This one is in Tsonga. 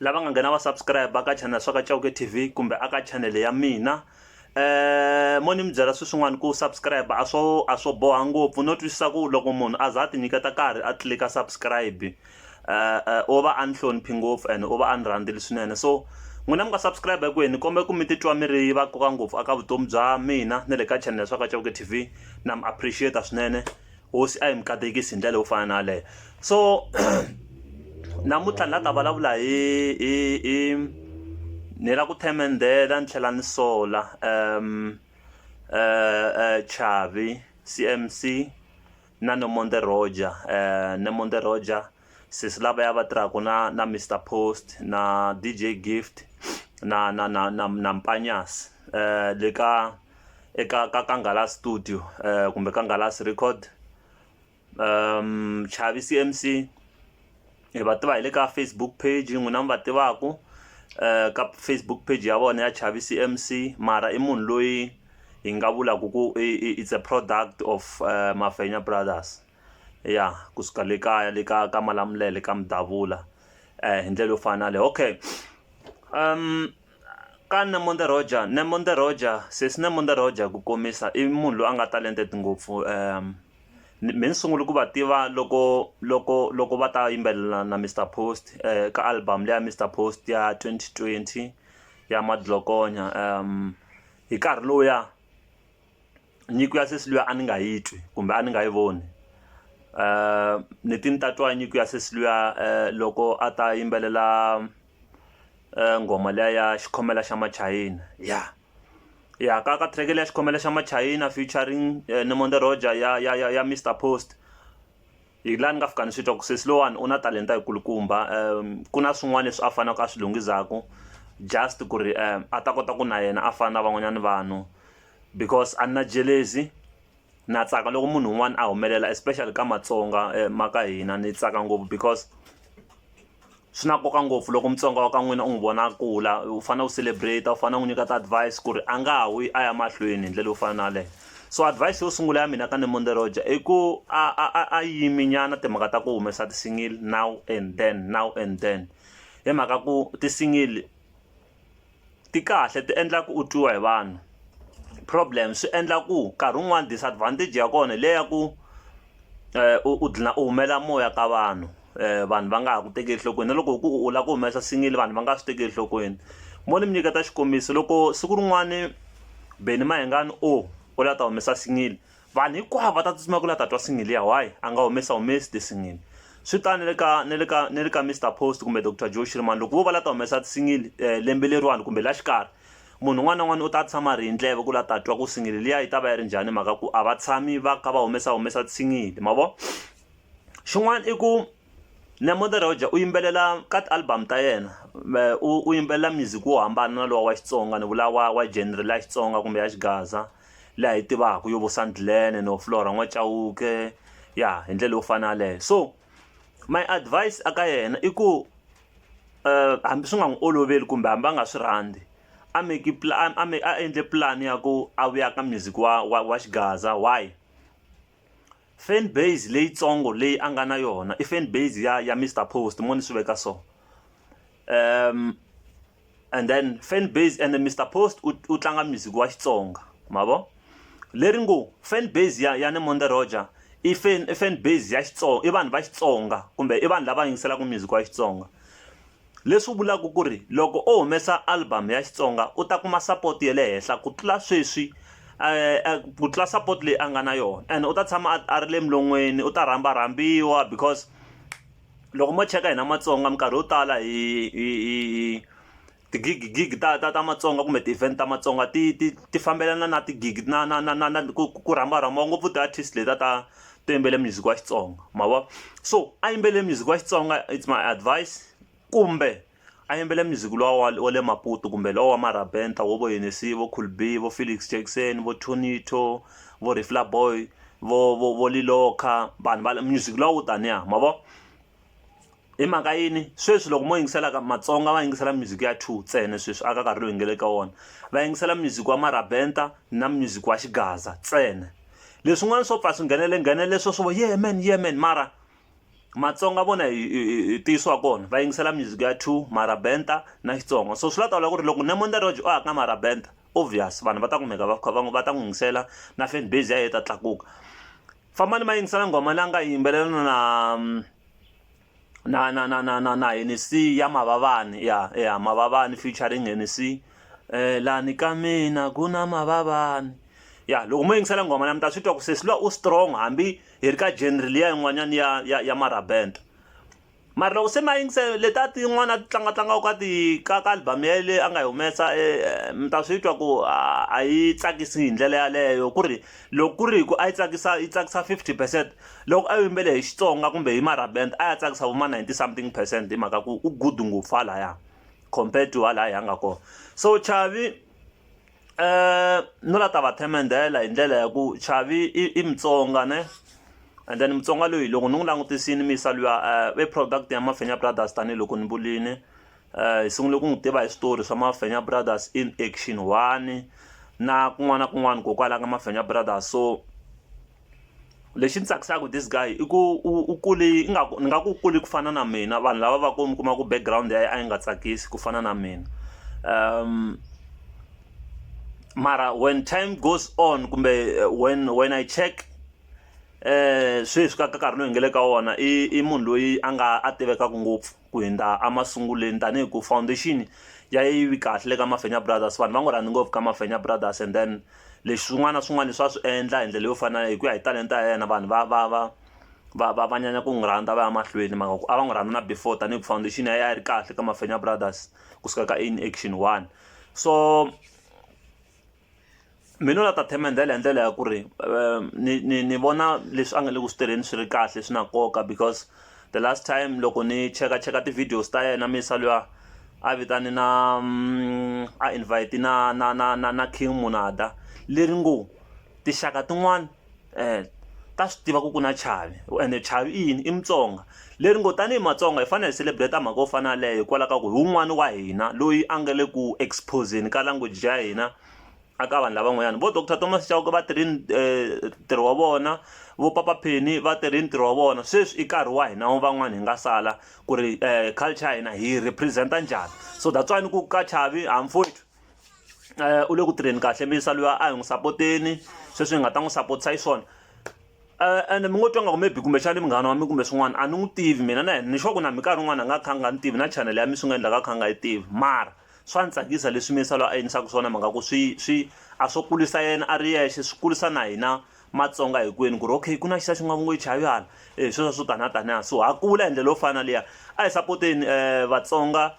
lava nga nghena va subscribe ka channel swa ka Chauke TV kumbe aka channel ya mina eh mo ni mi byela swin'wana ku subscribe a swo a swo boha ngopfu no twisisa ku loko munhu a za a ti nyiketa karhi a tlilika subscribe eh, eh o va a ni hloniphi ngopfu and o va a ni rhandzeli swinene so n'wina mi nga subscribe hinkwenu ni kombela ku mi titwa mi ri va koka ngopfu aka vutomi bya mina na le ka channel swa ka Chauke TV na mi appreciate swinene hosi a yi mi katekisi hi ndlela yo fana na yaleyo so namuntlha ni la ta vulavula hi hi hi ni la ku themendela ni tlhela ni sola um um chavi cmc na nomonde roger um nomonde roger sesi lavaya va tirhaka na na Mister Post na DJ Gift na na na na na Mpanyasi le ka eka ka ka Nghala studio kumbe ka Nghalasi record Chavi C_M_C hi va tiva hi le ka Facebook page n'wina mi va tivaku ka Facebook page ya vona ya Chavi C_M_C mara i munhu loyi hi nga vulaku ku i it's a product of Mafenya brothers. ya kusuka le kaya le ka ka Malamulele ka Mdavula hi ndlela yo fana na leyi okay ka Nomonde Rodger, Nomonde Rodger sesi Nomonde Rodger ku komisa i munhu loyi a nga talented ngopfu me ni sungule ku va tiva loko loko loko va ta yimbelela na Mister Post ka album leyi ya Mister Post ya twenty twenty ya Madlokonya hi nkarhi lowuya. nyiko ya sesi luya a ni nga yi twi kumbe a ni nga yi voni um ni ti ni ta twa nyiko ya sesi luya um loko a ta yimbelela nghoma liya ya xikhomela xa machayina ya ya ka ka track liya xikhomela xa machayina featuring Nomonde Roger ya ya ya ya Mister Post. hi la ni nga fika ni swi twa ku sesi lowani u na talenta yikulukumba um ku na swin'wana leswi a faneleke a swi lunghizaku just ku ri um a ta kota ku na yena a fana na van'wanyana vanhu because a ni na jelezi na tsaka loko munhu un'wana a humelela especially ka matsonga um ma ka hina ni tsaka ngopfu because swi na nkoka ngopfu loko mutsonga wa ka n'wina u n'wi vona a kula u fanele u celebrate u fanele u n'wi nyika ti-advise ku ri a nga ha wi a ya mahlweni hi ndlela yo fana na yaleyo so advise yo sungula ya mina ka Nemonde Roger i ku a a a a yimi nyana timhaka ta ku humesa ti-single now and then now and then hi mhaka ku ti-single ti kahle ti endlaku u twiwa hi vanhu problem swi endla ku nkarhi wun'wani disadvantage ya kona hi le ya ku u u dlina u humela moya ka vanhu vanhu va nga ha ku tekeli enhlokweni na loko ku u lava ku humesa single vanhu va nga swi tekeli enhlokweni mo ni mi nyiketa xikombiso loko siku rin'wani Benny Mayengani o u la ta humesa single. Vanhu hinkwavo va ta tsutsuma ku la ta twa single liya why a nga humesa humesi ti single swi ta ni le ka ni le ka ni le ka Mister post kumbe Doctor Joe Shirimani loko vo va la ta humesa ti single lembe leriwani kumbe la xikarhi munhu un'wana na un'wana u ta tshama ri hi ndleve ku la ta twa ku single liya yi ta va yi ri njhani mhaka ku a va tshami va kha va humesa humesa ti single mavona xin'wana i ku Nemude Roger u yimbelela ka ti-album ta yena u yimbelela music wo hambana na lowa wa Xitsonga ni vula wa wa genre leya Xitsonga kumbe ya Xigaza leyi hi yi tivaka yo vo Sandlane no Flora n'wa Chauke ya hi ndlela yo fana yaleyo so my advise a ka yena i ku hambi swi nga n'wi oloveli kumbe hambi a nga swi rhandzi a make a a endle pulani ya ku a vuya ka music wa wa wa Xigaza why. Fan base leyitsongo leyi a nga na yona i fan base ya ya Mister Post mo ni swi veka so and then fan base and Mister Post u u tlanga music wa Xitsonga ma vo leri ngo fan base ya ya Nemonde Roger i fan i fan base ya Xitsonga i vanhu va Xitsonga kumbe i vanhu lava yingiselaka music wa Xitsonga. leswi vulaka ku ri loko o humesa album ya Xitsonga u ta kuma support ya le henhla ku tlula sweswi ku tlula support leyi a nga na yona and u ta tshama a a ri le milon'weni u ta rhamba rhambiwa because loko mo cheka hina Matsonga minkarhi yo tala hi hi hi hi ti-gig gig ta ta ta Matsonga kumbe ti-event ta Matsonga ti ti ti fambelana na ti-gig na na na na na ku ku rhamba rhambiwa ngopfu ti-artist letiya ta to yimbelela music wa xitsonga ma vo so a yimbelela music wa xitsonga it's my advice kumbe a yimbelela music lowa wa wa le maputo kumbe lowa wa marabenta wo vo yenesi vo cool b vo felix jackson vo tonito vo refla boy vo vo vo liloka vanhu va music lowa wo taniya ma vo hi mhaka yini sweswi loko mo yingiselaka matsonga va yingisela music ya two ntsena sweswi aka karhi loyi ngele ka wona va yingisela music wa marabenta na music wa xigaza ntsena leswin'wana swo pfa swi nghenele nghenele leswo swo yemen yemen mara matsonga vona hi ntiyiso wa kona va yingisela music ya two marabenta na xitsonga so swi la tawula ku ri loko nemon the roge o haka marabenta obvious vanhu va ta kumeka va kha va va ta n'wi yingisela na fan base ya yena ta tlakuka fambani ma yingisela nghoma la nga yimbelela na na na na na na na Hennessy ya Mavavani ya ya Mavavani featuring Hennessy eh lani ka mina ku na Mavavani ya loko mo yingisela nghoma la mi ta swi twa ku sesi lowa u strong hambi hi ri ka genre liya yin'wanyana ya ya ya marabenta Mara loko se ma yingise letiya tin'wana ti tlanga tlangaka ka ti ka ka album ya ye leyi a nga yi humesa mi ta swi twa ku a yi tsakisi hi ndlela yaleyo ku ri loko ku ri hi ku a yi tsakisa yi tsakisa fifty percent loko a wu yimbele hi Xitsonga kumbe hi marabenda a ya tsakisa vo ma ninety something percent hi mhaka ku u good ngopfu halaya compare to halaya hi a nga kona so Chavi. no la ta va themendhela hi ndlela ya ku chavi i i mutsonga ne and then mutsonga loyi loko ni n'wi langutisini mi yisa luya i eh, product ya mafenya brothers tanihiloko ni vulini um eh, hi sungule ku n'wi tiva hi switori swa mafenya brothers in action one na kun'wana na kun'wana kokwalaho ka mafenya brothers so lexi ni tsakisaka this guy i ku u kule ingaku ni nga ku kule ku fana na mina vanhu lava va ku mi kuma ku background ya a yi nga tsakisi ku fana na mina um mara when time goes on kumbe eh, when when i check eh sweswi ka nkarhi loyi hi nga le ka wona i i munhu loyi a nga a tivekaka ngopfu Ku hundza emasungulweni tanihi ku foundation ya yi vi kahle le ka Mafenya Brothers vanhu va n'wi rhandza ngopfu ka Mafenya Brothers and then leswi swin'wana na swin'wana leswi a swi endla hi ndlela yo fana hi ku ya hi talenta ya yena vanhu va va va va va va nyanya ku n'wi rhandza va ya mahlweni hi mhaka ku a va n'wi rhandza na before tanihi ku foundation ya yena a yi ri kahle ka Mafenya Brothers kusuka ka Action one so mina la ta themendela hi ndlela ya ku ri um, ni, ni, ni vona leswi a nga le ku swi tirheni swi ri kahle swi na nkoka because the last time loko ni cheka cheka ti-videos ta yena misa luya a vitane na mm, a invite na na na na na king munada leri ngo tixaka tin'wana um ta swi tiva ku ku na chavi ende chavi i yini i mutsonga leri ngo tanihi matsonga hi fanele hi celebrate mhaka yo fana leyo hikwalaho ka ku hi wun'wani wa hina loyi a nga le ku exposeni ka language ya hina a ka vanhu lavan'wanyana vo doctor thomas chauke va tirhi eh, ntirho wa vona vo papa pheni va tirhi ntirho wa vona sweswi i nkarhi wa hina van'wana hi nga sala ku ri um culture ya hina hi representa njhani so that's why ni ku ka chavi hamfowethu u le ku tirheni kahle mi yisa luya a hi n'wi sapoteni sweswi hi nga ta n'wi sapotisa hi swona ende mi ngo twa nga ku maybe kumbexani munghana wa mi kumbe swin'wana a ni n'wi tivi mina na yena ni sure ku na minkarhi yin'wana a nga kha a nga ni tivi na channel ya mi swi nga endlaka a kha a nga yi tivi mara swa ni tsakisa leswi mi yisa loyi a yinisaka swona mhaka ku swi swi a swo kulisa yena a ri yexe swi kulisa na hina matsonga hinkwenu ku ri okay ku na xisa xi nga ngo chavihala e sweswo swo tani a taniha so ha kula hi ndlela yo fana na liya a hi sapoteni um vatsonga